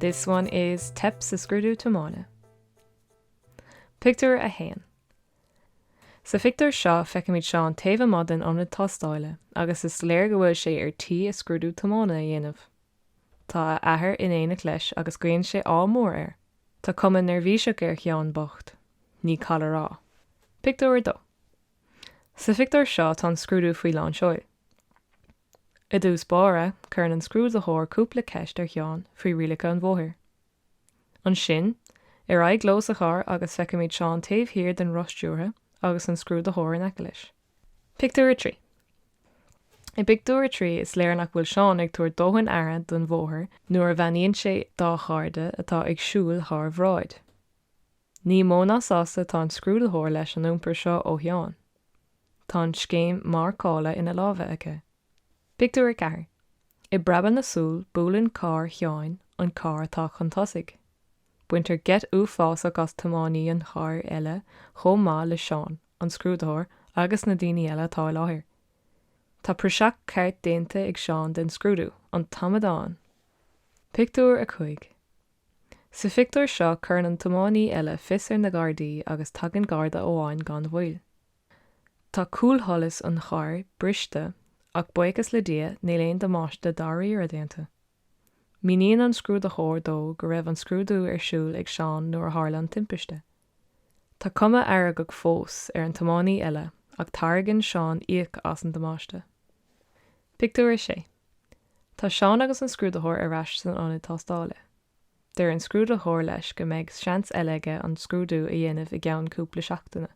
This one is Teip sa Scrúdú Tiomána. Pictiúr 1 Sa phictiúr seo feicimid Seán taobh amuigh den ionad tástála agus is léir go bhfuil sé ar tí a scrúdú tiomána a dhéanamh. Tá a athair in éineacht leis agus guíonn sé ádh mór air. Tá cuma neirbhíseach ar Sheán bocht, ní call a rá. Pictiúr 2. Sa phictiúr seo tá an scrúdú faoi lán seoil. I dtús báire, cuireann an scrúdaitheoir cúpla ceist ar Sheán faoi rialacha an bhóthair. Ansin, ar aghaidh leo sa charr agus feicimid Seán taobh thiar den roth stiúrtha agus an scrúdaitheoir in aice leis. Pictiúr 3 I bpictiúr a trí is léir nach bhfuil Seán ag tabhairt dóthain aire don bhóthar nuair a bheannaíonn sé dá chairde atá ag siúl thar bráid. Ní mó ná sásta tá an Scrúdaitheoir leis an iompar seo ó Sheán. Tá an scéim marcála ina lámha aige. Pictiúr a ceathair. I bpreabadh na súl buaileann carr Sheáin an carr atá chun tosaigh. Baintear geit uafásach as tiománaí an chairr eile chomh maith le Seán, an Scrúdaitheoir agus na daoine eile atá i láthair. Tá praiseach ceart déanta ag Seán den scrúdú, an t-amadán. Pictiúr a cúig. Sa phictiúr seo cuireann an tiománaí eile fios ar na Gardaí agus tagann Garda amháin gan mhoill. Tá cúlsholas an chairr briste ach buíochas le Dia níl aon damáiste dáiríre déanta. Míníonn an scrúdaitheoir dó go raibh an scrúdú ar siúl ag Seán nuair a tharla an timpiste. Tá cuma fheargach fós ar an tiománaí eile ach tairgeann Seán íoc as an damáiste. Pictiúr 6. Tá Seán agus an scrúdaitheoir ar ais san ionad tástáile. Deir an scrúdaitheoir leis go mbeidh seans eile aige an scrúdú a dhéanamh i gceann cúpla seachtaine.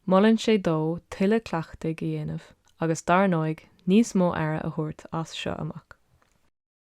Molann sé dó tuilleadh cleachtaidh a dhéanamh agus dar ndóigh níos mó aire a thabhairt as seo amach.